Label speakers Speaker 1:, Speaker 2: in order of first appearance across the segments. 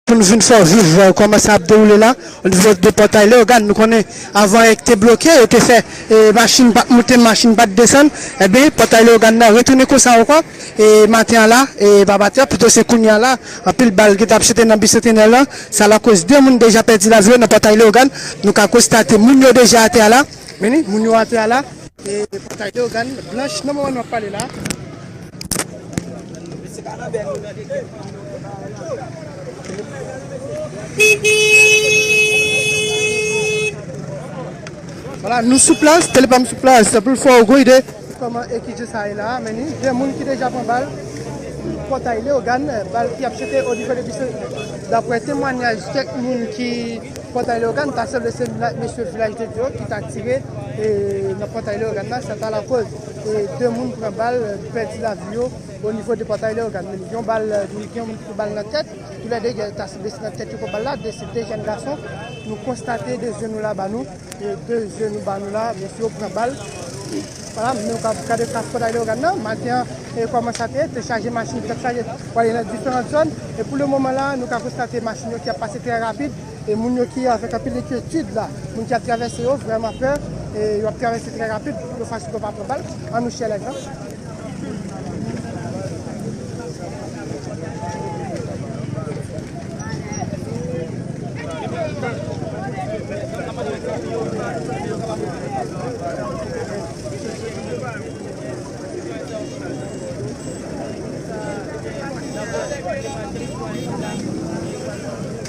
Speaker 1: Pou nou vin fè w viv kòman sa ap dewoule la onivo de pòtay Leyogàn. Nou konnen avan e te bloke, yo te fè machin pa t moute, machin pa t desann. Enben, pòtay Leyogàn nan retounen konsa ankò e maten an la e pa batè pito se kounye a la anpil bal ki t ap chante nan Bicentenaire lan. Sa lakoz 2 moun deja pèdi lavi yo nan pòtay Leyogàn. Nou ka konstate moun yo deja atè a la. Mennen, moun yo atè a la e pòtay Leyogàn blanch nan moman nou ap pale la. Wala nou sou plas, Telepam sou plas pou l fè w gwo ide kòman ekije sa ye la a meni. Gen moun ki deja pran bal nan pòtay Leyogàn, bal ki ap chante o nivo de Bise. Daprè temwanyaj kèk moun ki pòtay Leyogàn, ta sanble se mesye Vilaj de Dye yo ki ta tire nan pòtay Leyogàn la, sa ta lakoz. 2 moun pran bal pèdi lavi yo o nivo depatay Leyogàn. Yon bal ni gen yon moun ki pran bal nan tèt. Tou lè 2 gen ta se blese nan tèt yo pran bal la. 2 se 2 jèn gason. Nou konstate 2 je nou la ba nou. 2 je nou ba nou la mesye yo pran bal. Wala men nou kab gade klas potay Leyogàn nan. Maten an e kòman sa te ye. Te chaje machin, te chaje pou ale nan diferant zòn. E pou le moman la nou ka konstate machin yo ki ap pase trè rapid. E moun yo ki avèk anpil enkyetid la, moun ki ap travèse yo vrèman pè e yo ap travèse trè rapid pou yo fè ansout yo pa pran bal. An nou chèlè nan.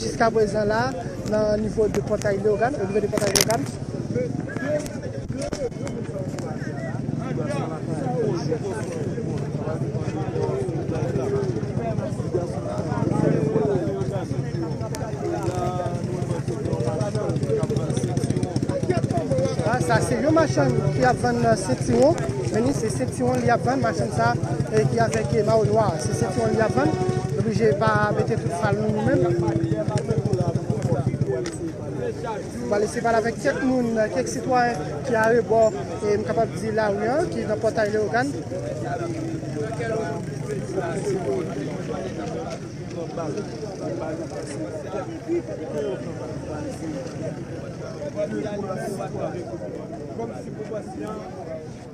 Speaker 1: Jiska prezan la, nan nivo de Pòtay Leyogàn, o nivo de Pòtay Leyogàn, sa se yon machann ki ap vann sentiwon, men ni se sentiwon li ap vann, machann sa ki avèk mawo nwa, se sentiwon li ap vann. Oblije pa mete tout mal nou nou menm. Wale se pale avèk kèk moun, kèk sitwayen ki arebò e m kapab di lari an, ki nan pòtay Leyogàn.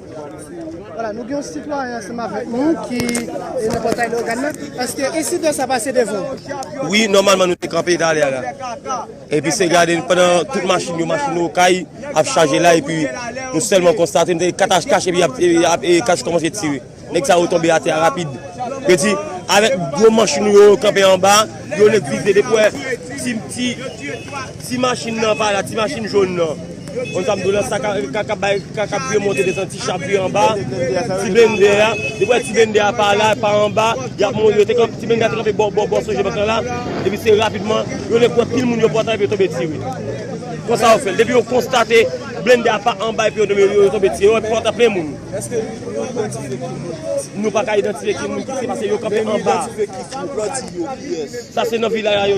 Speaker 1: Wala nou gen yon sitwayen ansanm avèk nou ki nan pòtay Leogane nan, eske ensidan sa pase devan ou? Wi, nòmalman
Speaker 2: nou te kanpe talè a la. Epi se gade nou pandan tout machin yo, machin nou okay ap chaje la epi nou sèlman konstate nou tande katach kach epi ap kach kòmanse tire. Nèg sa yo tonbe atè a rapid. Yo di avèk gwo manch nou yo kanpe anba, yo lè vize depi wè ti ti. Ti machin nan pa la, ti machin jón nan. Konn sa m di w la, sa kap bay, sa kap vye monte desann, ti cha vye anba, ti blennde a. Depi w wè ti blennde a pa la, pa anba, y ap monte. Ti blennde a te kanpe bò bò sonje bank lan la. Epi se rapidman, yo lè kwè pil moun yo pran tan epi yo tonbe tire. Konsa yo fè l. Depi yo konstate blennde a pa anba epi yo tonbe, yo tonbe tire. Yo wè pòt la plen moun. Nou pa ka idantifye ki moun ki se pase yo kanpe anba. Sa se nan vilaj la yo.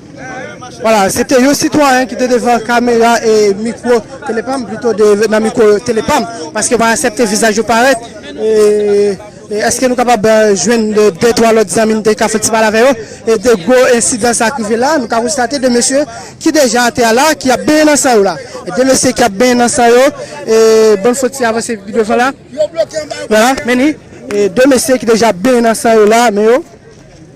Speaker 1: Wala, se te yon sitwayen ki te devan kamera e mikwo Telepam, plito nan mikwo Telepam, paske mwen asepte vizaj yo parèt. Eske nou kapab jwenn 2, 3 lòt zanmi nou te ka fè ti pale avè yo? E de gwo ensidan sa ki rive la, nou ka konstate 2 mesye ki deja atè a la, ki ap benyen nan san yo la. 2 mesye ki ap benyen nan san yo, e bann fò ti avanse pi devan la. Wala, men li, 2 mesye ki deja ap benyen nan san yo la, men yo.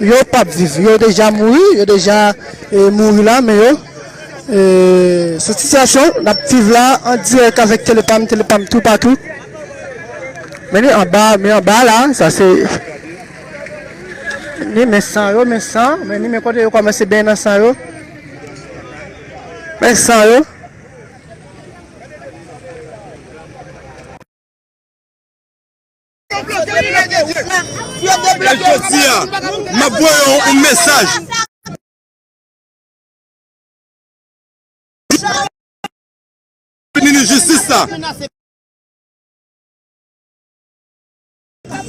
Speaker 1: Yo pap viv yo deja mouri yo deja mouri la men yo sou titiyasyon nap viv la an dirèk avèk telepam telepam tou patou men ni anba men anba la sa se ni men san yo men san men ni men kote yo kòmanse benyen nan san yo men san yo.
Speaker 3: E jodi a, m ap voye w yon mesaj. Minis jistis la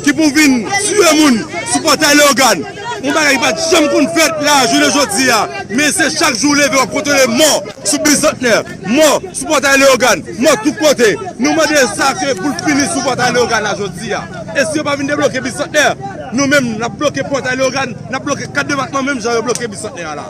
Speaker 3: ki pou vin tiye moun sou pòtay Leyogàn, yon bagay ki pa t janm konn fèt la jounen jodi a, men se chak jou w leve w ap kwontole mò sou Bizantnè. Mò sou pòtay Leyogàn! Mò tout kote! Nou mande sa ke pou l fini sou pòtay Leyogàn la jodi a. E si yo pa vin debloke Bisantnè, nou menm n ap bloke pòtay Leyogàn, n ap bloke 4 depatman menm jan yo bloke Bisantnè a la.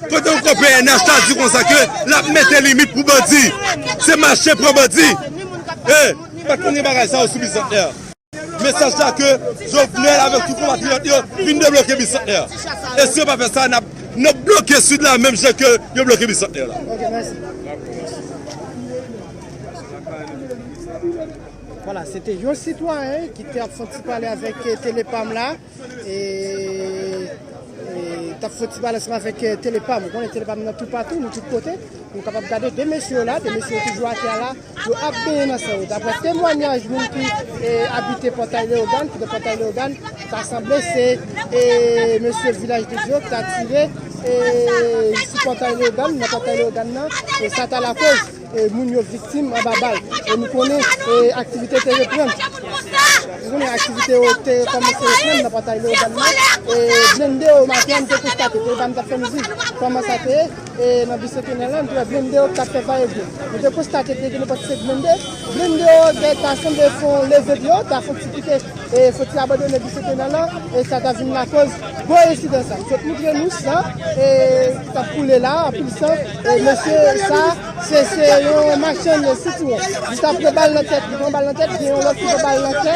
Speaker 3: Kote ou ko pnh ta di konsa ke lap mete limit pou bandi. Se mache pran bandi. E pa t konn gen bagay sa yo sou Bisantnè. Mesaj la ke Jovenel avek tout konpatriyot yo vin debloke Bisantnè. E si yo pa fe sa nap bloke Sid la menm jan ke yo bloke Bisantnè la.
Speaker 1: E tap fè ti balans la vek tele pam ou konnen tele pam nan tou patou nou tout kote nou kapab gade 2 mesye yo la 2 mesye yo toujou atè la yo ap benyen nan san yo daprè temwanyaj moun ki abite pòtay leogàn ki nan pòtay leogàn ta sanble se mesye vilaj de dyo ki ta tire sou pòtay leogàn nan pòtay leogàn nan sa ta lakoz Moun yo viktim anba bal. E nou konnen aktivite yo te reprann. Nou konnen aktivite yo te kòmanse reprann nan pòtay Leyogàn nan. E blende yo maten an nou te konstate te depann tap fè mizik. Kòman sa te ye? E nan bisekenè lan nou te wè blende yo ki tap fè vayevyen. Nou te konstate te gen nenpòt 5 blende. Blende yo ta sanble fè yon leve dlo, ta fè yon ti pike. e soti abandone di se te nan la e sa ta vin lakoz gwo ensidan sa. Li sot moutre nou san e ki tap koule la, anpil san e mesye sa se se yon machann sitwon. Li ta pran bal nan tèt, li pran bal nan tèt, gen yon lòt ki pran bal nan kè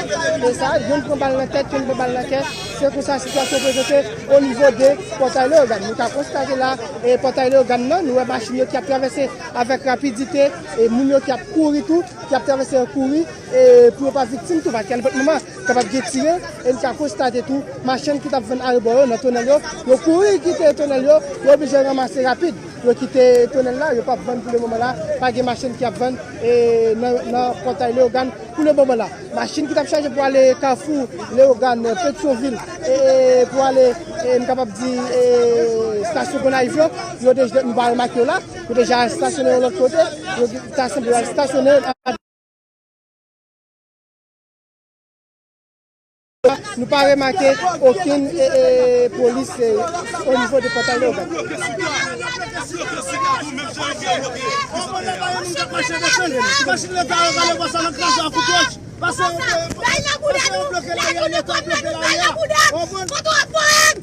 Speaker 1: e sa youn pran bal nan tèt, youn pran bal nan kè. Se konsa sitiyasyon prezante o nivo de Pòtay Leyogàn. Nou ka konstate la e Pòtay Leyogàn nan, nou wè machin yo ki ap travèse avèk rapidite e moun yo ki ap kouri tou, ki ap travèse an kouri. e pou yo pa viktim tou paske alenpòt moman kapab gen tire e n ka konstate tou machann ki t ap vann arebò yo nan tonèl yo, yo kouri kite tonèl yo, yo oblije ranmase rapid yo kite tonèl la, yo p ap vann pou le moman la, pa gen machann ki ap vann nan pòtay Leyogàn pou le moman la. Machin ki t ap chaje pou ale kafou Leyogàn, Petyonvil e pou ale n kapab di stasyon Gonayiv yo, yo deja, nou pa remake yo la, yo deja stasyone yon lòt kote, yo ta sanble yo al stasyone. Nou pa remake okenn polis o nivo de pòtay Leyogàn.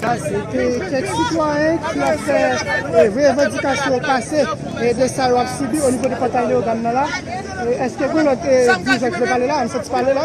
Speaker 1: Se te kèk sitwayen ki ap fè revandikasyon yo pase de sa yo ap sibi o nivo depatay Leyogàn nan la. Eske gen lòt dirijan ki vle pale la? Ann soti pale la.